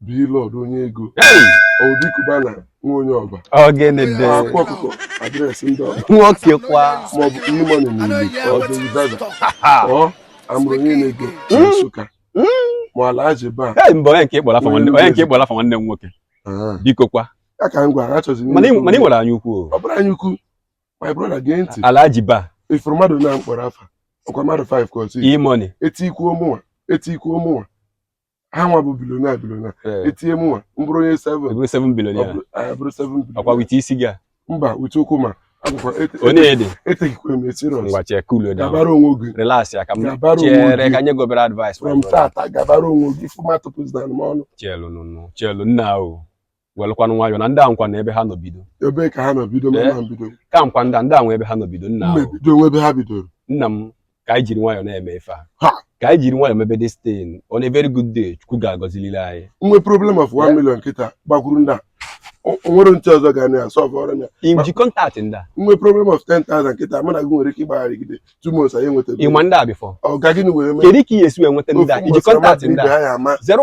Blord onye ego Obi Cubana nwa onye ọba ọgịnịdị akwa ọkụkọ adreesị ndị ọba nwoke kwa maọbụ E-Money n'Uli Jowizaza ọ amụrụ onye n'ego na hmm? Nsụka hmm? ma Alhaji Ba mba onye nke ịkpọrọ afa nwanne onye nke ịkpọrọ afa nwanne m nwoke ah. biko kwa ya ka m gwara achọzi mana ị nwere anya ukwu ọ bụrụ anya ukwu my brother gee ntị Alhaji Ba ị fụrụ mmadụ na m kpọrọ afa ọkwa mmadụ 5 ka ọ bụ E-Money etikwuo mụnwa etikwuo mụnwa ha nwa bụ billionaire billionaire eh. etinye mụnwa m bụrụ onye 7 bụrụ 7 billionaire bụrụ 7 billionaire ọkwa with isi gị a mba with ụkwụ m a eteghịkwa m serious ngwa chee cool down gabara onwe gị relax ya ka m chere ka nye gị obere advice from tata gabara onwe gị fụmatụpụzina m ọnụ chelu nụ chelu nna o welụkwanụ nwayọọ na ndị a nwekwanụ ebe ha nọ bido ebe ka ha nọ bido ma Eh? na bido ka m gwa ndị a ndị a nwe ebe ha nọ bido nna mma ahụ ebido o nwe ebe ha bidoro nna m ka anyị jiri nwayọọ na-eme ife a Ha! ka anyị jiri nwayọọ mebe this thing on a very good day chukwu ga-agọziliri anyị nwe problem of 1 million kịta gbakwuru ndị a O- o nwere ntị ọzọ ga na ya solve ọrọ ya i ji contact ndị a nwe problem of 10,000 kịta mana gị nwere ike ịgbagharịgide two months anyị enweta ị ma ndị a before ọ ga gịnị were mee kedu ka ị ga-esi wee nweta ndị a i ji contact ndị a ha ya ama zero